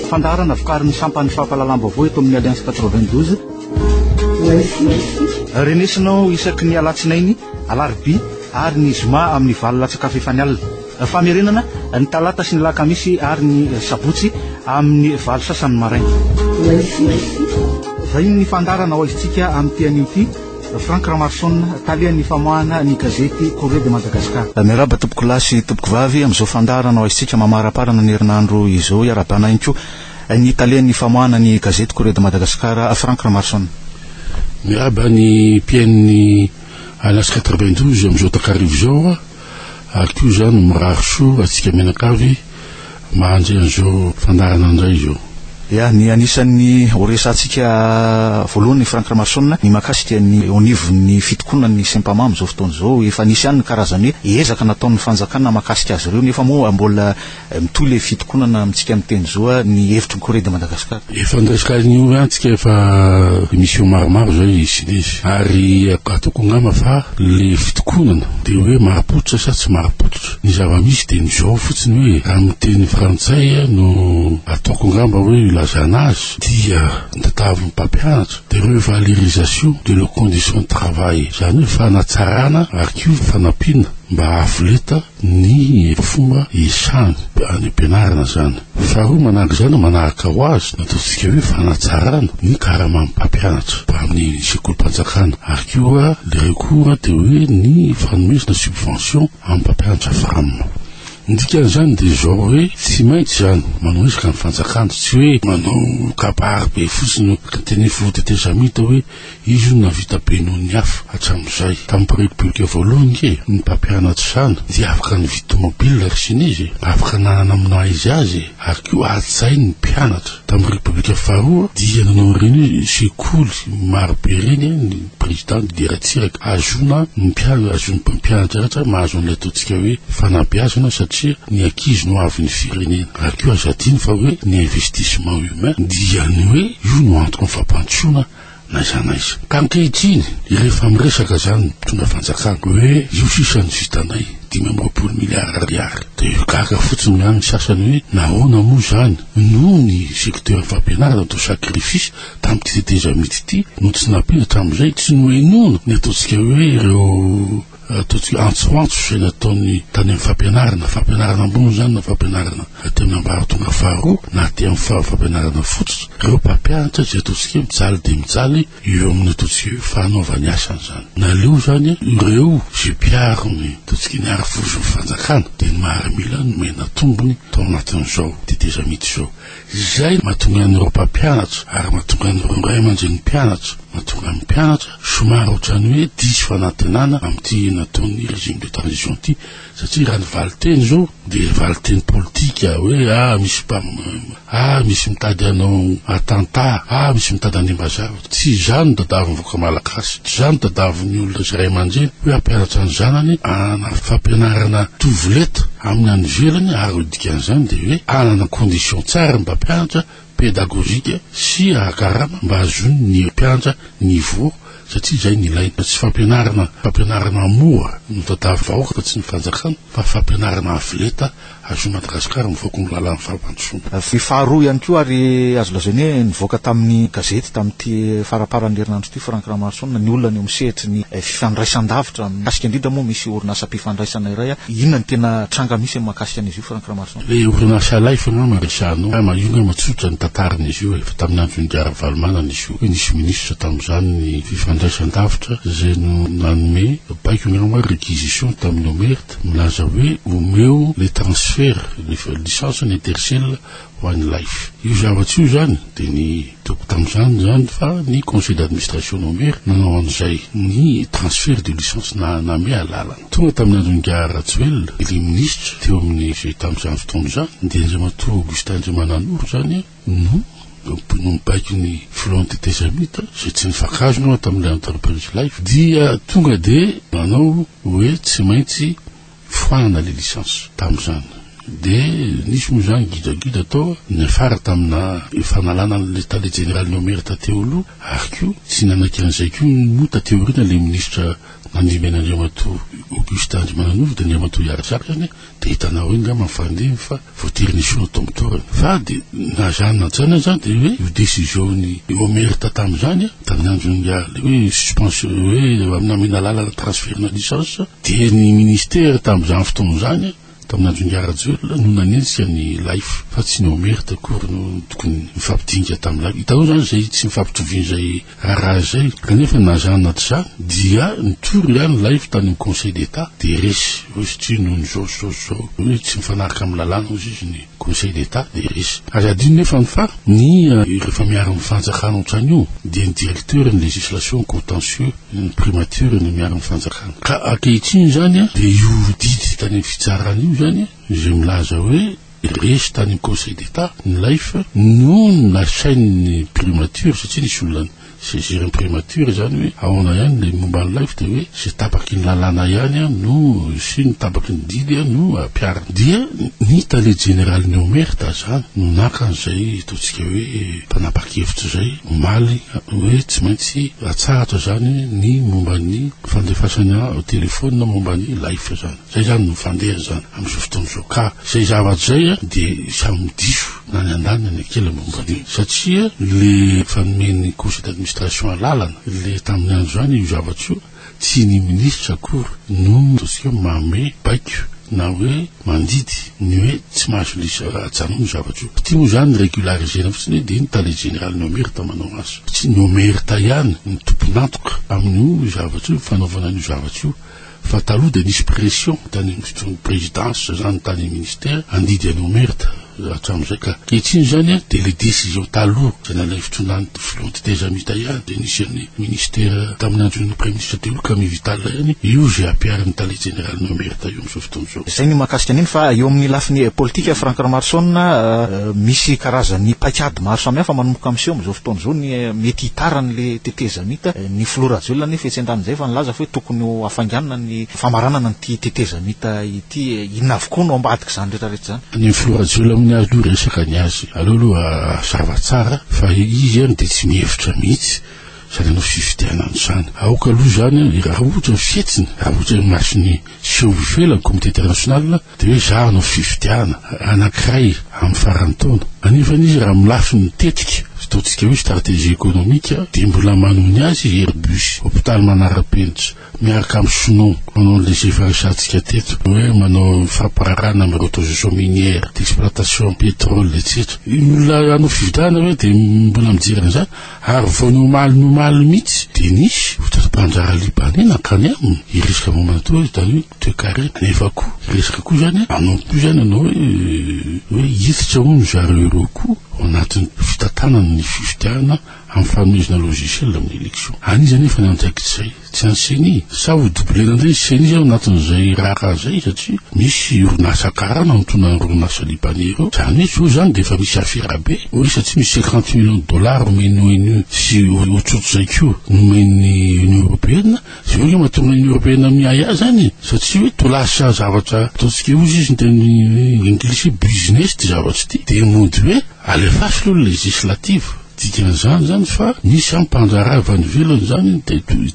Fandaharana vokarin'ny sampan'ny fampahalalam-baovao eto amin'ny Alliance 92. Renesinao isaky ny alatsinainy, alarobia ary ny zoma amin'ny valo latsaka fefany alina. Famerenana ny talata sy ny lakamisy ary ny sabotsy amin'ny valo sasany maraina. Vahiny ny fandaharana ho aizintsika amin'ny tian'io ity. Franck Ramaroson, talen' ny famoahana ny gazety Courrier de Madagascar. Miarahaba tompokolahy sy tompokovavy amin'izao fandaharana hoaisintsika mamaraparana ny herinandro izao. Iarahabana ihany koa ny talen' ny famoahana ny gazety Courrier de Madagascar, Franck Ramaroson. Miarahaba ny mpihaino ny Alas quatre-vingt-douze amin'izao takariva izao. Ary koa izaho no mirary soa antsika mianakavy mahanjy an'izao fandaharana indray izao. Ya, ny anisan'ny ho resahantsika voalohany Franck Ramason ny mahakasika ny eo anivon'ny fitokonan'ny Sempama amin'izao fotoana izao. Efa nisy ihany ny karazan'ny hoe ezaka nataon'ny fanjakana mahakasika azy ireo nefa moa mbola Mitohy ilay fitokonana amintsika miteny zo a, ny hevitry ny Corée de Madagascar. Efa niresaka azy ny orange tsika efa émission maromaro zay izy lesy ary ataoko angamba fa le fitokonana de hoe marim-pototra sa tsy marim-pototra ny zava-misy de ny zao fotsiny hoe raha ny teny frantsay no ataoko angamba hoe ilazana azy dia ny tatavin'ny mpampianatra de revalorisation de leur condition de travail zany hoe fanatsarana ary koa fanampiana mba ahafoleta ny fomba isany any am-pianarana izany. Faharoa manaraka izany manaraka ho azy ny ataontsika hoe fanatsarana ny karaman'ny mpampianatra ho amin'ny sekolim-panjakana ary koa ilay koa dia hoe ny fanomezana subvention amin'ny mpampianatra fram. Ny dikan'izany dia izao hoe tsy maintsy izany manao ezaka ny fanjakana tsy hoe manao kabary be fotsiny, ny teny hoe faute de tes amis toa hoe. Izy io nahavita be noho ny hafa hatramin'izay. Tamin'ny mpirepirika voalohany ange, ny mpampianatra izany dia afaka nividy tomobilina ry siny izy e! Afaka nanana amin'ny maha izy azy e! Ary koa hajainy ny mpianatra. Tamin'ny repirika faharoa dia nanao ireny sekoly maro be ireny ny prezida nidera-tsiraka hahazoana ny mpianatra, hahazoan'ny mpampianatra rehetra mahazo an'ilay ataontsika hoe fanabeazana satria ny ankizy no havin'ny firenena. Ary koa aza adino fa hoe ny investissement io. Amen. Dia ny hoe io no antoky ny fampandrosoana na aiza na aiza. Ka ankehitriny, rehefa miresaka izany ny mpitondra fanjakana hoe io sisa no vitanay, dimy amby roapolo miliara ariary, dia ho gaga fotsiny ihany ny sasany hoe nahoana moa izany no ny secteur fampianarana atao sacrifice tamin'ity tetezamita ity no tsy nampiana hatramin'izay, tsy nohenoina ny ataontsika hoe ireo Ataontsika antsoantso izay nataony tany amin'ny fampianarana, fampianarana ambony izany na fampianarana aty amin'ny ambaratonga faharoa na aty amin'ny fa- fampianarana fototra, ireo mpampianatra izay ataontsika hoe mijaly dia mijaly eo amin'ny ataontsika hoe fanaovany asany izany. Naleo izany ireo izay mpiaro ny ataontsika ny harivozon'ny fanjakana dia ny maharimila nomena tombony tao anatin'izao tetezamita izao. Izay no mahatonga an'ireo mpampianatra ary mahatonga an'ireo ray aman-drenin'ny mpianatra mahatonga ny mpianatra somary ohatran'ny hoe diso fanantenana amin'ity nataon'ny régime de transition ity satria raha ny valinteny izao dia valinteny politika hoe ah misy mpam ah misy mitady anao attentat ah misy mitady hanimba zavatra Tsy izaho no tadiavin'ny vahoaka malagasy, tsy izaho no tadiavin'ny olona sy ray aman-dreny hoe hampianatra ny zanany hanana fampianarana tovoleta amin'ny any ivelany ary ho dikan'izany dia hoe hanana conditions tsara ny mpampianatra, pédagogique, sy hahakarama mba hahazoany ny mpianatra niveau satria izay no ilaina. Tsy fampianarana fampianarana mora no tadiavin'ny vahoaka fa tsy ny fanjakana fa fampianarana avoleta Azon'i Madagasikara mivoaka ny lalàn'ny fampandrosoana. Vy faharoa ihany koa ary azo lazaina hoe nivoaka tamin'ny gazety tamin'ity faramparan'ny herinandro ity Franck Ramaroson ny olana eo amin'ny sehatry ny fifandraisandavitra mikasika indrindra moa misy orinasam-pifandraisana iray inona ny tena tranga misy amin'ny mahakasika an'izy io Franck Ramaroson? Ilay orinasa Life angamba resahina ao. Maheno hoe matsotsotra ny tantaran'izy io e. Efa tamin'ny andron'i Ingahy Ravalomanana izy io. Nisy minisitra tamin'izany ny fifandraisandavitra izay no nanome baiko angamba hoe réquisition tamin'i Homer. Milaza hoe omeo le transfert le licence ny intercell ho any life. Io zavatra io zany de ny hitako tamzany zany fa ny conseil d'administration no maire nanao anzay ny transfert de licence na name alalana. Tonga taminy andro ingahy Rajoelina le ministre teo aminy zay tamzany fotoana zany de Andriamatoa Augustin Andriamananoro zany No mpino mibaiko ny Front des Tezamita izay tsy nifankahazo ny tamin'ilay Enterprise Life dia tonga dia nanao hoe tsy maintsy foanana ilay licence tamin'izany. Dia nisy moa izany gidagida tao niafara tamina fanalana an'ilay Tale Jeneraly Nomer tateo aloha ary koa tsy nanaiky an'izay koa moa taty aoriana ilay Minisitra nandimby an'Andriamatoa Augustin Andrimananova dia Andriamatoa Iary Zaka izany Dia hitanao eo ngamba ny fandehany fa voatery nesoina tao amin'ny toerana. Fa dia na zany na tsaina izany dia hoe io décision-n'i Omerta tamin'izany a, tamin'ny andron'ny ilay hoe suspension hoe namena alalana transfert-na licence, dia ny ministère tamin'izany fotoana izany, tamin'ny andron'i Rajoelina, no nanenjika an'i Laif fa tsy ny Omerta akory no tokony nifampidinika tamin'ilay. Hitanao izany izay tsy nifampitovian'izay. Raha izay, kanefa na zany na tsy zany dia nitory ihany ny live tany amin'ny conseil d'Etat dia resy hoe satria noho ny izao sy izao sy izao hoe tsy mifanaraka amin'ny lalàna hozy izy ny conseil d'Etat dia resy. Aza adino nefa ny fa ny rehefa miaro ny fanjakana otrany io dia ny directeur ny legislation contentieux ny primature no miaro ny fanjakana ka ankehitriny izany dia io didy tany amin'ny fitsarana io izany izay milaza hoe Resy tany Conseil d'Etat ny Life no nasain'ny Primature satria nisy olona ni saisir ny Primature izany hoe ahoana ihany ilay momba ny Life dia hoe izay tapaky ny lalàna ihany no sy ny tapaky ny didy no ampiharina. Dia ny Tale Jeneralin'ny Omert izany no naka an'izay ataontsika hoe mpanapa-kevitra izay omaly hoe tsy maintsy atsahatra izany ny momba ny fandefasana telefaonina momba ny Life izany. Zay zany no fandeha zany amizao fotoana zao ka zay zavatra zay a de samy diso na ny andany na ny ankilany momba an'io satria le fanomen'ny conseil d'administration alalana le tamin'ny andro zany io zavatra io tsy ny ministra akory no ataontsika hoe manome baiko na hoe mandidy ny hoe tsy mahazo lisa ajanony io zavatra io ty moa zany regularisena fotsiny hoe de ny tale général no merita manao azy tsy no merita ihany ny tompon'antoka amin'io zavatra io fanaovana an'io zavatra io Fa taloha dia nisy pression tany amin'ny présidence zany tany amin'ny ministère handidy an'i Omert hatramin'izay ka ankehitriny zany a dia le décision taloha zay nalain'ny fitondran'ny filoha antitezamita ihany dia nisy an'ny ministère tamin'ny andron'ny praiminisitra teo io Camille Vital ihany io izay ampiharin'ny tale jeneralin'i Omert io amin'izao fotoana izao. Izay ny mahakasika an'iny fa eo amin'ny lafiny politika Franck Ramaroson a, misy karazan'ny paik'ady maro samihafa manomboka amin'ny seho amin'izao fotoana izao ny mety hitarany le tetezamita. Ny filoha Rajoelina anefa etsy an-danin'izay efa nilaza fa hoe tokony ho hafainganina ny famaranana an'ity tetezamita ity. Inona avokoa no ambadik'izany rehetrarehetra izany? Ny filoha Rajoelina hono ary no resaka ny azy. Aleo aloha hazava tsara fa izy ary dia tsy mihevitra mihitsy izany hanao fifidianana izany. Aoka aloha izany raha ohatra ny fihetsiny, raha ohatra ny mason'ny. Tsy ho velany comité international dia hoe za hanao fifidianana anankiray amin'ny faran'ny taona. Anefa izy raha amin'ny lafiny tetika, ataontsika hoe stratégie économique, dia mbola manohy ny azy i Airbus, hôpital manara-penitra, miaraka amin'ny Snow, manao an'ilay izay efa resahantsika teto, hoe manao fampirarahana amin'ny reconstruction minière, d'exploitation pétrole, etsetra. Ny olona hanao fifidianana ve dia mbola mijery an'izany? Ary vao ny omaly ny omaly mihitsy dia nisy fotoam-pandraharaha Libaney nankany aminy hiresaka momba ny toa izany hoe toekarena. Nefa koa hiresaka koa izany hoe hanao koa izany ianao hoe hoe hiditra hono zareo ireo koa ao anatin'ny fitantanana ny fifidianana amin'ny fanomezana logiciel amin'ny élection. An'iza anefa ny andraikitra izay? Tsy any ceni, sa ho doubler indray ny ceni ao anatin'izay raharaha izay satria misy orinasa karana notonan'ireo orinasa libaney ireo, izany hoe zao izany dia efa misy afera be, hoe satria misy cinquante millions de dollars omen'ny onu sy otsotr'izay koa nomen'ny union européenne, izay hoe mahatonga ny union européenne miahy azy any e, satria hoe to lasa zavatra ataontsika hoe hozy izy ny teny englisy hoe business ity zavatra ity, dia mody hoe alefaso aloha ny législative. Dikan'izany izany fa misy an mpandraharaha avy any ivelany izany ny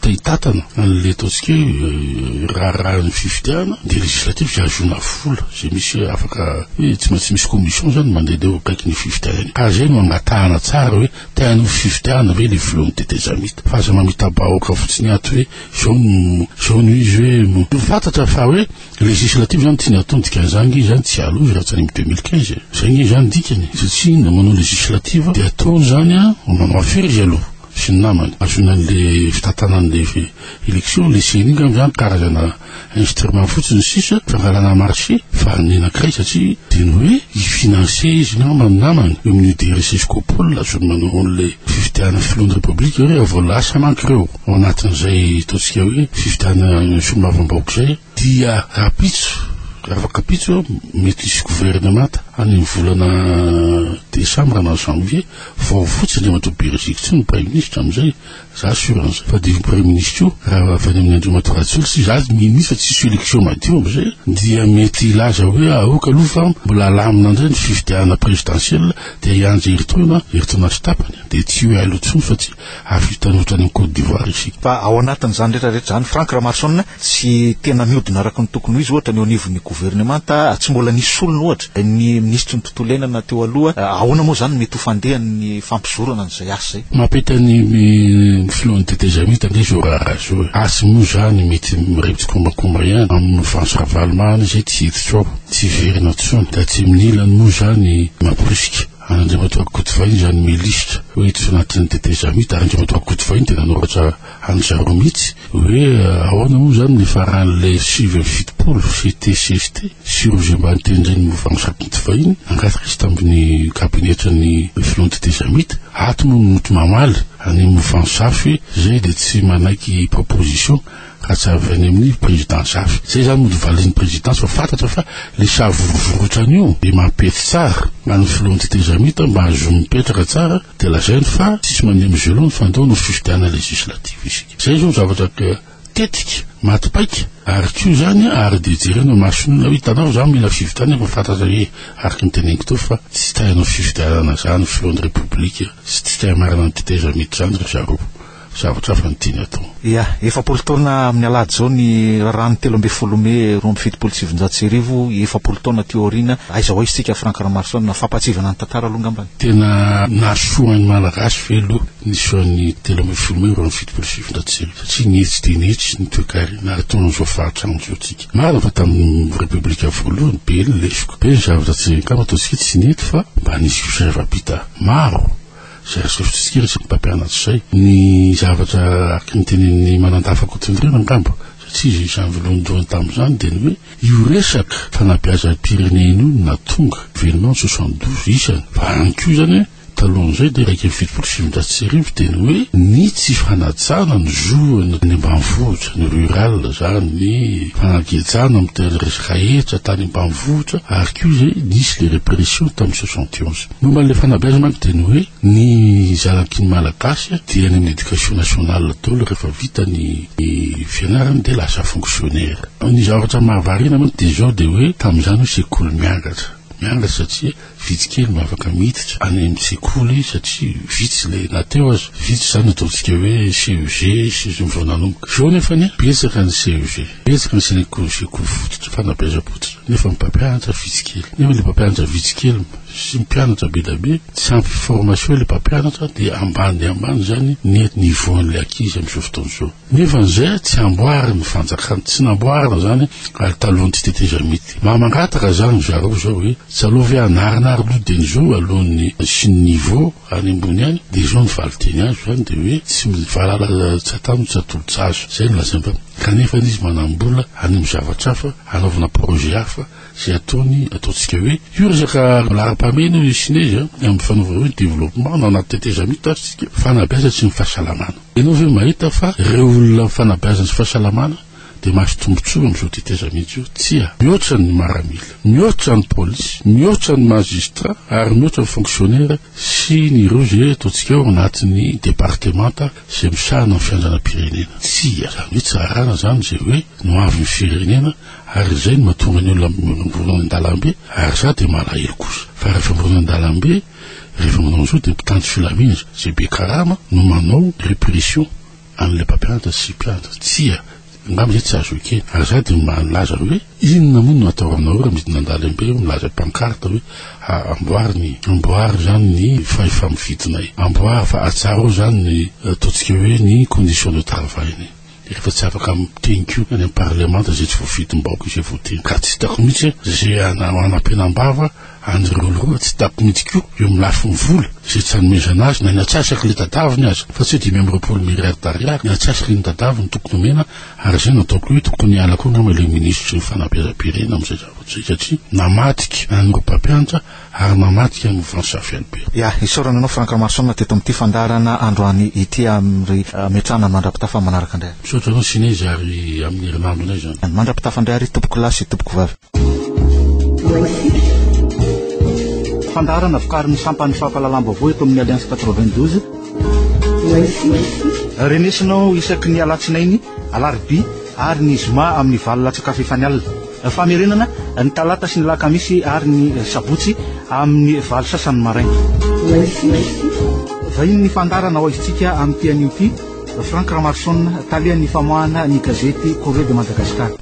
te-hitatana an'ilay ataontsika hoe raharahan'ny fifidianana dia législative dia ahazoana vola izay misy afaka hoe tsy maintsy misy commission izany mandeha dia eo akaikin'ny fifidianana iny ka izay no hangatahana tsara hoe te hanao fifidianana ve ilay volan'ny tetezamita fa aza mamita-bahoaka fotsiny ato hoe izao no izao no izy hoe ho fantatra fa hoe Législative zany tiany atao ny dikan'izany nge izany tsy aloha i Rajanim deux mille quinze e. Zay nge izany ny dikany satria na manao législative dia atao izany an manao affaire izy aloha sy ny namany azony an'le fitantanan'le élection le ceni ngamba izany karazana instrument fotsiny sisa fangalana marché fa ny anakiray satria dia ny hoe hi financer izy ngamba ny namany eo amin'io DRC sy Copol azony manao an'le fifidianana filohan'ny république ireo rehefa vao lasa manko ireo. ao anatin'izay ataontsika hoe fifidianana solonavam-bahoaka izay dia rahampitso afaka pitso mety hisy governemanta any amin'ny volana desambra na janvier vao fotsiny dia mandro beriziko tsy ny prime ministre amin'izay za sur an'izay fa dia prime ministre io raha avy any amin'ny andriamatoa rajoly tsy za ministre tsisy élection madio amin'izay dia mety hilaza hoe aoka aloha fa mbola alamina indray ny fifidianana présidentielle dia hianja heritoana heritoana sy tapany dia tsy hoe ailo intsony fa tsy ary fitanota any Côte d'Ivoire izy. Fa ao anatin'izany rehetra rehetra izany, Franck Ramarsson tsy tena mihodina araka ny tokony ho izy ohatra ny eo anivon'ny governemanta, tsy mbola nisy solony ohatra ny minisitry ny tontolo iainana teo aloha, ahoana moa izany no mety ho fandehan'ny fampizorana an'izay asa izay? Mampita ny filohan'ny tetezamita ange izao raharaha izao e! Asa moa izany mety mirevy tsikombakomba ihany amin'i Franck Ravalomanana izay tsy hiditra ao, tsy hiverina intsony, tatsimo ny ilany moa izany mamporisika. Andriamatoa Godfrey izany milisitra hoe tsy anatin'ny tetezamita, ary Andriamatoa Godfrey no dia nanoratra an'i zareo mihitsy hoe ahoana moa izany ny faran'ilay sivy amby fitopolo CTCST sy ireo izay mba nitendren'ny Mouvance Rakoto fahiny hangataka izy tamin'ny kabinetran'ny filohan'ny tetezamita, ato moa no mety mamaly an'ny Mouvance hafa hoe izay dia tsy manaiky proposition Ka tsy avy any amin'ny président zafy. Zay zany mody valin'ny présidence fa fantatra fa le savorovorotrany io de mampety tsara an'ny filohan'ny tetezamita mba hahazoany mipetraka tsara de lazainy fa tsisy mandeha mizelony fa andao hanao fifidianana législative isika. Zay zao zavatra tetika maty paika ary ko zany ary de jerena masonao hitanao za mila fifidianana fa fantatra hoe araka ny teneniko teo fa tsy tay hanao fifidianana zany filohan'ny république sy tsy tay marina ny tetezamita zany ry zareo. zavatra hafa no tiany atao. Ia, efapolo taona amin'ny alahady izao ny raharahan'ny telo ambin'ny folo mey roa amby fitopolo sy sivinjato sy arivo, efapolo taona aty aoriana, aiza ho aiza isika Franck Ramaroson a! Fampahatsiahivana ny tantara aloha angamba ny. Tena nahasoa ny Malagasy ve aloha ny sehoan'ny telo ambin'ny folo mey roa amby fitopolo sy sivinjato sy arivo satria nihitsy dia nihitsy ny toekarena ataony amin'izao fahatrana izao tsika. Marina fa tamin'ny Repoblika voalohany be ny lesoka, be ny zavatra tsy angamba ataontsika tsy nety fa mba nisy fisainam-pita maro, izay aseho sotisikera sy ny mpampianatra izay ny zavatra araka ny tenin'ny Manandafa Kotondrena angamba satria izy izany voalohandohany tamin'izany dia ny hoe io resaka fanabeazam-pirenena io natonga événement soixante douze isany fa any koa izany hoe talohan'izay dia iraika amby fitopolo sy sivinjato sy arivo dia ny hoe ny tsy fanajana ny zohina ny ambanivohitra ny rural izany ny fanagejana amin'ny resaka hetra tany ambanivohitra ary koa izay nisy le répression tamin'ny soixante et onze Momba an'ilay fanabeazana manko dia ny hoe ny zanaky ny Malagasy dia any amin'ny éducation nationale daholo rehefa vita ny fianarany dia lasa fonctionnaire. Ny zavatra mahavariana manko dia izao dia hoe tamin'izany hoe sekoly miangatra, miangatra satria vitsy kely no afaka miditra any amin'ny sekoly satria vitsy ilay na teo aza vitsy izany ataontsika hoe CEG sy ny vao nanomboka. Izao nefany betsaka ny CEG. Betsaka ny gynécologie koa fototra, fanabeazam-pototra, nefa ny mpampianatra vitsy kely. Nefa ilay mpampianatra vitsy kely sy mpianatra be dia be, tsy ampy formation ilay mpampianatra dia ambany dia ambany izany ny niveau-n'ilay ankizy amin'izao fotoana izao. Nefa an'izay tsy amboarin'ny fanjakana, tsy namboarina izany ary talohan'ny tsy tetezamita ity. Maha mangataka izany ry zareo izao hoe, tsy aleo ve hanarina ary aloha dia ny zo alohan'ny sy ny niveau. any ambony any dia izao ny valinteny azo izany dia hoe tsy mivalala tsatano tsatolotsazo izay no lazainy fa kanefa izy manambola any amin'ny zavatra hafa hanaovana projet hafa izay ataony ataontsika hoe io resaka laharam-pahamehana io sinezy amin'ny fanaovana hoe développement na anaty tetezamita io tazitsika fanabeazana sy ny fahasalamana ianao ve mahita fa ireo olona fanabeazana sy fahasalamana dia mahazo tombontsoa amin'izao teteza mihitsy io, tsia, mihoatra ny maramila, mihoatra ny polisy, mihoatra ny mazistra ary mihoatra ny fonksionera sy ny ireo izay ataontsika ao anatin'ny departemanta izay misahana ny fiandranam-pirenena. Tsia, izany hoe tsy arahana izany izay hoe no avy ny firenena ary izay no mahatonga ny olona mivorongoronona any an-dalambe ary za dia malahelo kosa fa rehefa mivorongoronona any an-dalambe rehefa manao an'izao dia mpitandro filaminana izay be karama no manao repression An'ilay mpampianatra sy mpianatra, tsia, angamba izay tsy azo ekena. Ary izaho dia milaza hoe, Inona moa no atao aminareo raha midina an-dalambe eo milaza pankarta hoe, A, amboary ny, amboary izany ny fahefa-mividinay. Amboary fa atsarao izany ny ataontsika hoe ny conditions de travail-nay. Rehefa tsy afaka miteny koa any amin'ny parlemanta izay tsy voafidim-bahoaka izay voateny. Ka tsy hitako mihitsy izay hanampenam-bava Andry Roloroa tsy tapy mihitsy koa eo amin'ny lafiny vola izay tsy hanomezana azy na ny atsasak'ilay dadaviny aza fa tsy hoe dimy amby roapolo milliards d'ariary ny atsasak'iny dadaviny tokony omena ary izay no ataoko hoe tokony hiala koa angamba ilay minisitry ny fanabeazam-pirenena amin'izay zavatra izay satria namadika an'ireo mpampianatra ary mamadika an'i Mouvance Afy Albert. Ya, isaorana anao Franck Ramarosaona teto amin'ity fandaharana androany ity am ry Metrana mandrapitafa manaraka indray. Misaotra anao Sinez ary amin'ny herinandro indray izany. Mandra-pitafa indray ary tompokolahy sy tompoko vavy. Fandaharana vokarin'ny sampan'ny fampahalalam-baovao eto amin'ny Alliance 92. Renesinao isaky ny alatsinainy, alarobia ary ny zoma amin'ny valo latsakafo efa ny alina. Famerenana ny talata sy ny lakamisy ary ny sabotsy amin'ny valo sasany maraina. Vahiny ny fandaharana ho aizintsika amin'ity anio ity, Franck Ramarson, tale an'ny famoahana ny gazety Correo de Madagascar.